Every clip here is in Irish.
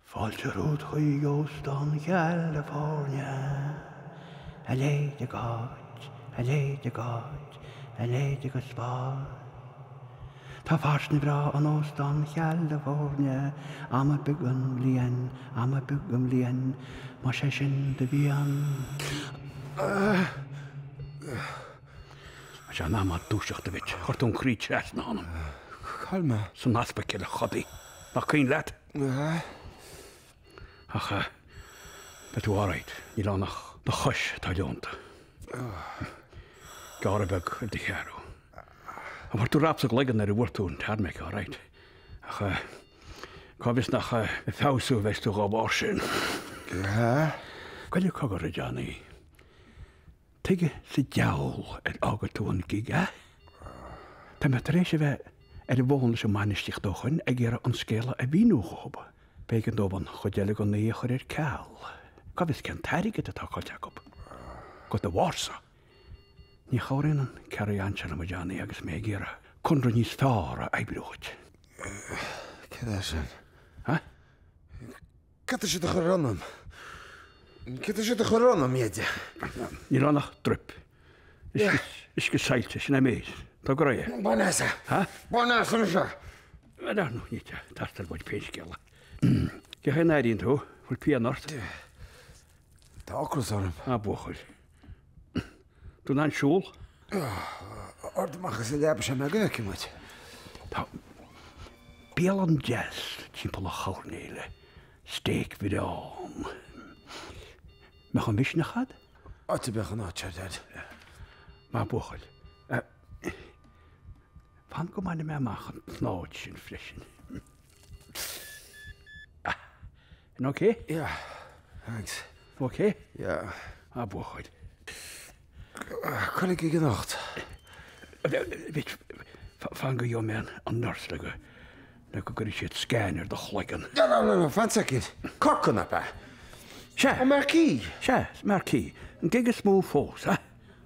Fáilte romhat chuig Óstán Chalifornia. A leithéid d'áit, a leithéid d'áit, a leithéid agus fáil. Tá fairsinge bhreá in Óstán Chalifornia am ar bith den bhliain, am ar bith den bhliain, más é sin do mhian. Tá sé in am dúiseacht duit. Chuir tú an croí trasna ionam. Cá bhfuil mé? San easpaicil, a chodaí. Nach cuimhin leat? Ach beidh tú alright, níl ann ach do chois atá leonta. Gearradh beag ar do cheathrú. An bhfuair tú rap sa gcloigeann nuair a bhuail tú an tarmac alright? Ach cá bhfios nach ag feabhsú a bheas tú dhá bharr sin. Goile, cogar, a Danny. Tuige sa deabhal ar fhága tú an gig, a? Tá mé tar éis a bheith ar an bhfón leis an mbainistíocht ó shoin ag iarraidh an scéala a mhíniú dhóib. B'éigean dóibh an chuid eile den oíche a chur ar ceal. Cá bhfios cén t-airgead atá caillte acu. De do bharrsa. Ní chabhraíonn an carry-on seo liom, a Danny, agus mé ag iarraidh conradh níos fearr a oibriú dhuit. Cad é sin? Hah? Cad tá siad a chur ionam? Cad tá siad a chur ionam, Dheaide? Níl ann ach druip uisce saillte, sin é an méid. Tóg go réidh é. Bain as é. Ha? Bain as anois é. Ar dhearnadh ní thart ar muid féin scéala. Cén chaoi a n-airíonn tú? Bhfuil pian ort? Tá ocras orm. Á, buachaill. Tú in ann siúl? Árd amach as an leaba sin go ngabhfaidh muid. Tá bialann dheas timpeall an choirnéil, steak bhreá ann. Mbeadh an mhisneach a'd? Áit a mbeadh an áit seo dead. Maith buachaill. Fan go mbainfidh mé amach an tsnáthaid sin freisin. An ok? Yeah, thanks. Ok? Yeah. Ah, buachaill. Coinnigh ag imeacht. Bhí, fan go dheom an an nurse le go, le go gcuirfidh siad scan ar do chloigeann. No, no, no, no, fan second. Corcaigh, ab ea? Sea. An marquee? Sea, marquee. An gig is mó fós, ha?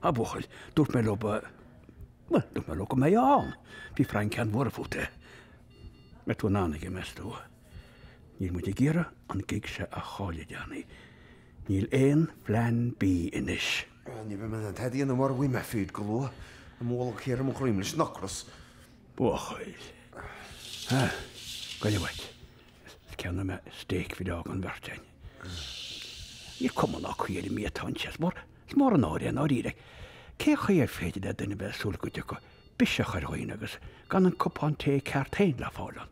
Ah, buachaill, dúirt mé leo ba, well, dúirt mé leo go mbeifeá ann. Bhí Frank an-bhuartha fút. Mbeidh tú in ann aige, meas tú? Níl muid ag iarraidh an gig seo a chailleadh, Danny. Níl aon phlean B anois. Ní bheidh mé in ann tada a dhéanamh mara bhfaighidh mé feed go luath. Tá mo bholg thiar i mo dhroim leis an ocras. Buachaill. Ah, goile uait. Is ceannóidh mé steak feed don bheirt a'inn. Níl cuma ná caoi ar an mbia atá anseo. Is mór, is mór an náire é i ndáiríre. Cé chaoi ar féidir le duine bheith ag súil go dtiocfadh biseach ar dhaoine agus gan an cupán tae ceart féin le fáil ann.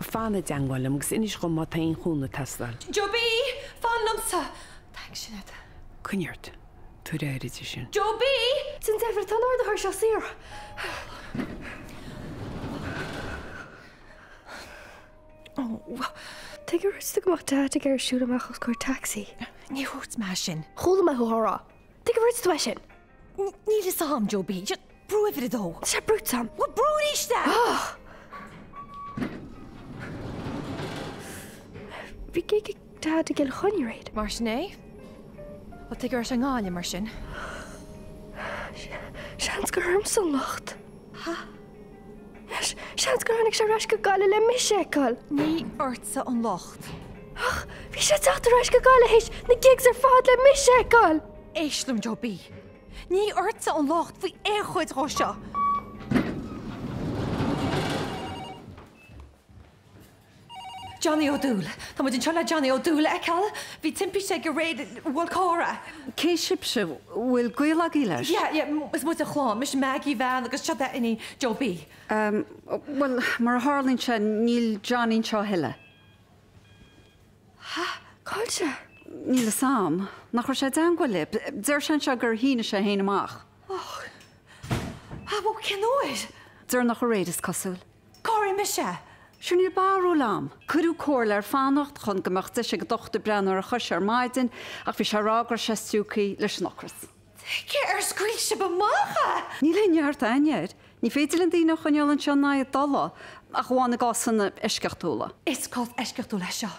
Fan i dteangmháil liom agus inis dhom má tá aon chúnamh ag teastáil. Joe B, Fan liomsa! Thanks, Sinéad. Coinnigh ort. Tabhair aire di sin. Joe B! Déan deifir, tá an ardaitheoir seo saor. Tuige ar dhúirt tú go mbeadh Dad ag iarraidh siúl amach os comhair taxi. Níor dhúirt mé sin. Chuala mé thú á rá. Tuige ar dhúirt tú é sin! Níl fhios a'am, Joe B. Just brú uimhir a dó. Níl sé brúite a'am. Bhuel, brú aríst é! Ach! Bhí gig ag dad i gCill Chainnigh aréir. Mar sin é? Bhuel, tuige raibh sé i nGaillimh mar sin? Seans gur ormsa an locht. Seans gur tháinig sé ar ais go Gaillimh le mise a fheiceáil. Ní ortsa an locht. Ach bhí sé ag teacht ar ais go Gaillimh théis na gigs ar fad le mise a fheiceáil! Éist liom Joe B. Ní ortsa an locht faoi aon chuid dhó seo. Johnny Ó Dúill. Tá muid anseo le Johnny Ó Dúill a fheiceáil. Bhí timpiste aige aréir, bhuail carr é. Cé sibhse? Bhfuil gaol agaibh leis? Yeah, yeah, is muid a chlann. Mise Maggie, a bhean, agus seod í a iníon Joe B. Bhuel, mar a tharlaíonn sé, níl Johnny anseo a thuilleadh. Hah? Cá'il sé? Níl fhios a'am. Nach raibh sé i dteangmháil libh? Deir sé anseo gur shínigh sé fhéin amach. Oh. Ah, bhuel, cén uair? Deireanach aréir, is cosúil. Cá raibh mise? Sure níl barúil a'm. Cuireadh comhairle air fanacht chun go mbeadh deis ag an dochtúir breathnú ar a chois ar maidin ach bhí sé ag rá go raibh sé stiúgtha leis an ocras. Tuige ar scaoil sibh amach é? Níl aon neart againne air. Ní féidir linn daoine a choinneáil anseo in aghaidh a dtola, ach amháin i gcásanna eisceachtúla. Is cás eisceachtúil é seo.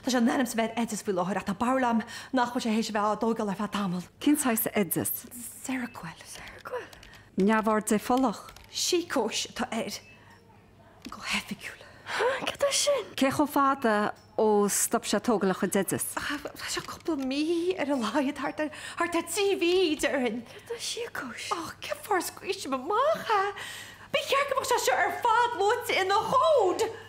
Tá sé in ainm is a bheith ar oideas faoi láthair ach tá barúil agam nach bhfuil sé théis a bheith á dtógáil ar feadh tamaill. Cén saghas oideas? Seroquel. Neamhord dépholach? Síocóis atá air, go hoifigiúil. Ha, cad é sin? Cé chomh fada ó stop sé tógáil a chuid oideas? Tá sé cúpla mí ar a laghad, thart ar, thart ar trí mhí, déarfainn. Cad é síocóis? Ó, cén fáth ar scaoil sibh amach é? Ba cheart go mbeadh sé seo ar fad luaite ina chomhad!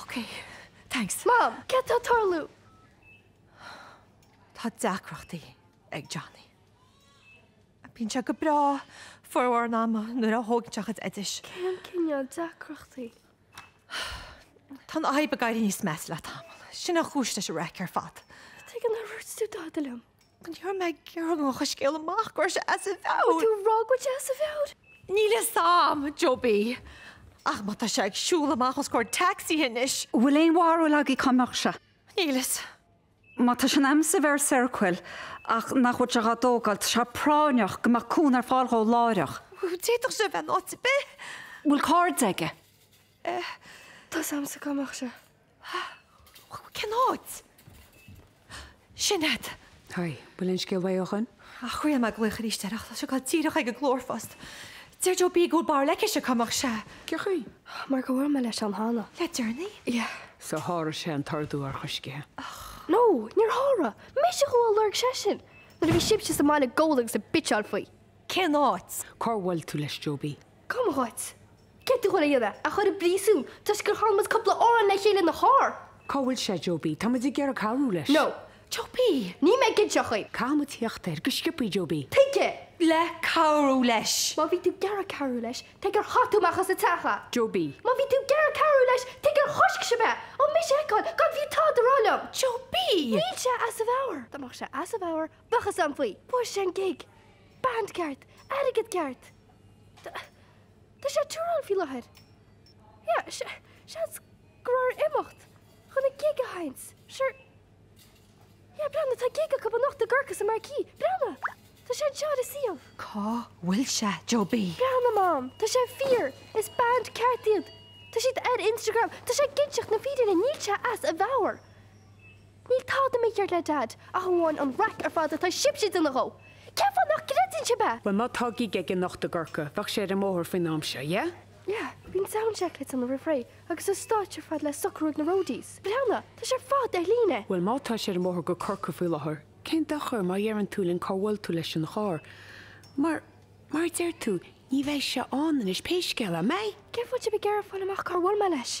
Ok. Thanks. Mom, cad tá ag tarlú? Tá deacrachtaí ag Johnny. Bíonn sé go breá formhór an ama nuair a thógann sé a chuid oidis. Cén cineál deacrachtaí? Tá an fhadhb ag éirí níos measa le tamall. Sin an chúis leis an raic ar fad. Tá ag an abhairt tú, dá dtuigim. Ní raibh mé ag iarraidh go ngabhfadh an scéal amach go raibh sé as a mheabhair? Bhfuil tú ag rá go bhfuil sé as a mheabhair? Níl fhios a'am, Joe B. Ach má tá sé ag siúl amach os comhair tacsaithe anois. An bhfuil aon bharúil agaibh cá mbeadh sé? Níl fhios. Má tá sé in ainm is a bheith ar Seroquel ach nach bhfuil sé dhá dtógáil, tá sé práinneach go mbeadh cúnamh ar fáil dhó láithreach. D'fhéadfadh sé a bheith in áit ar bith. Bhfuil cairde aige? Eh, tá 's a'msa cá mbeadh sé. Cén áit? Sinéad. Hi, bhfuil aon scéal uaidh ó shoin? Thriail mé glaoch aríst air ach tá sé ag dul díreach chuig an nglórphost. Deir Joe B go bhfuil barúil aigesean cá mbeadh sé. Cé chaoi? Mar gur bhuail mé leis ann cheana. Le deireanaí? Yeah. So sháraigh sé an t-ordú urchoisc. No, níor sháraigh! Mise a chuaigh ag lorg seisean nuair a bhí sibhse sa mbaile ag gabháil agus ag bitseáil faoi. Cén áit? Cár bhuail tú leis Joe B? Cuma dhuit. Céard tá tú ag goil a dhéanamh, é a chur i bpríosún toisc gur chan muid cúpla amhrán le chéile ina charr. Cá bhfuil sé, Joe B? Tá muid ag iarraidh cabhrú leis. No. Joe B, Níl mé ag inseacht dhaoibh. Caithfidh muid theacht air go sciopaí, Joe B. Tuige? Le cabhrú leis. Má bhí tú ag iarraidh cabhrú leis, tuige ar chaith tú amach as an teach é? Joe B. Má bhí tú ag iarraidh cabhrú leis, tuige ar choisc sibh é ó mise a fheiceáil, gan fiú tada a rá liom? Joe B. Níl sé as a mheabhair. Dá mbeadh sé as a mheabhair, bheadh fhios a'm faoi. Fuair sé an gig. Band ceart. Airgead ceart. Tá sé touring faoi láthair. Yeah, se, seans go raibh air imeacht chun an gig a sheinnt, sure. Yeah, breathnaigh, tá gig acub anocht i gCorcaigh sa Marquee. Breathnaigh! Tá sé anseo ar a suíomh. Cá bhfuil sé, Joe B? Breathnaigh, Mom, tá sé fíor! Is band ceart iad! Tá siad ar Instagram, tá sé ag inseacht na fírinne, níl sé as a mheabhair! Níl tada mícheart le Daid ach amháin an raic ar fad atá sibhse ag déanamh dhó. Cén fáth nach gcreideann sibh é? Bhuel, má tá gig aige anocht i gCorcaigh, bheadh sé ar an mbóthar faoin am seo, yeah? Yeah, bíonn sound check le déanamh roimh ré agus an stáitse ar fad le socrú ag na roadies. Breathnaigh, tá sé ar fad ar líne! Bhuel, má tá sé ar an mbóthar go Corcaigh faoi láthair, cén dochar má dheireann tú linn cár bhuail tú leis ina charr? Mar, mar a deir tú, ní bheidh sé ann anois, pé scéal é, mbeidh? Cén fáth a bhfuil sibh ag iarraidh fáil amach cár bhuail mé leis?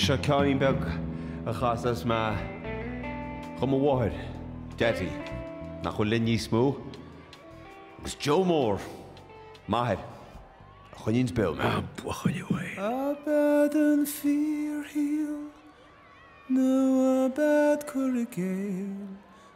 Seo ceann beag a chasfas mé do mo mháthair, Deaidí, nach bhfuil linn níos mó, agus Joe Mór, m'athair, a choinníonns beo mé. Buachaillí Bhuí. Ab é an fíorshaol nó ab é cur i gcéill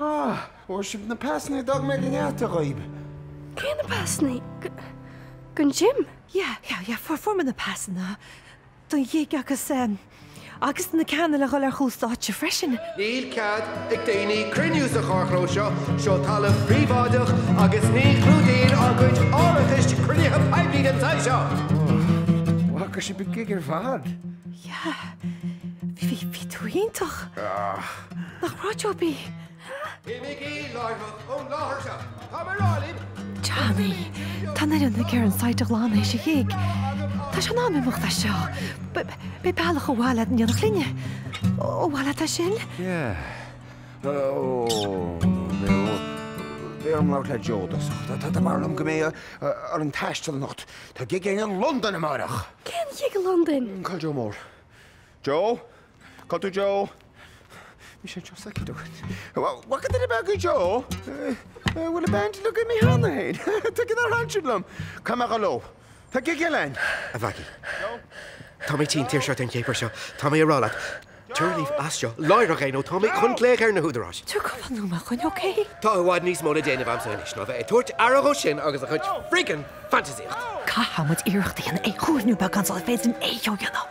Ó, fuair sibh na pasannaí a d'fhág mé ag an deasc daoib. Cé na pasannaí? Don gig? Yeah, yeah, yeah, fuair, fuair muid na pasanna don ghig agus eh, agus na cinn le ghoil ar chúl stáitse freisin. Níl cead ag daoine cruinniú sa charrchlós seo, seo talamh príobháideach agus ní chlúdaíonn ár gcuid árachais cruinnithe poiblí den tsaghas seo! Ó, bhfaca sibh an gig ar fad? Yeah, bhí, bhí, bhí tú iontach. Ahh. Nach breá job í? Imigí láithreach ón láthair seo. Tá mé a rá libh! Johnny! Tá an fhoireann ag iarraidh an site a ghlanadh théis an ghig. Tá sé in am imeacht as seo. Beidh bealach abhaile i ndán do chuile dhuine. Abhaile, an é sin? Yeah. Ó, beidh orm labhairt le Joe i dtosach. Tá mé ag rá liom go mbeidh muid ag taisteal anocht. Tá gig againn i Londain amáireach! Cén gig i Londain? Cáil Joe Mór. Joe? Cáil tú Joe? Bhí sé anseo soicind ó shin. Bhfaca duine ar bith Joe. Bhfuil an band ag imeacht cheana fhéin. Tuigfidh na hainsean liom. Cá mbeadh a ló? Tá gig eile ann. A Mhaggie. Joe? Tá mé tinn tuirseach den chéapar seo. Tá mé a rá leat. Tabhair leat as seo. Láithreach é nó tá mé chun glaoch ar na húdaráis. Tabhair cúpla nóiméad dhúinn ok? Tá i bhfad níos mó le déanamh anso anois ná bheith ag tabhairt aire dhó sin agus a chuid friggin fantasaíocht. Caithfimid iarracht a dhéanamh é a chiúiniú, pé rud is féidir linn é a dhéanamh.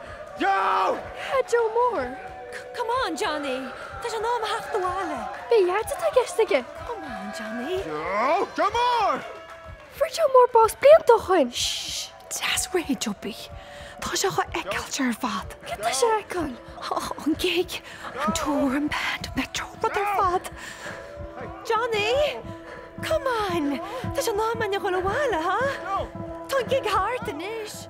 Joe! A Joe Mór! Come on, Johnny! Tá sé in am a theacht abhaile! Cén áit atá i gceist aige! Come on, Johnny! Joe! Joe Mór! Fuair Joe Mór bás blianta ó shoin! Shh! Deas réidh, Josie. Tá sé dhá fheiceáil ar fad! Céard tá sé a fheiceáil? An gig, an tour, an band, an Metro, rud ar fad! Johnny! Come on! Tá sé in am againn a ghabhail abhaile, huh? Tá an gig thart anois!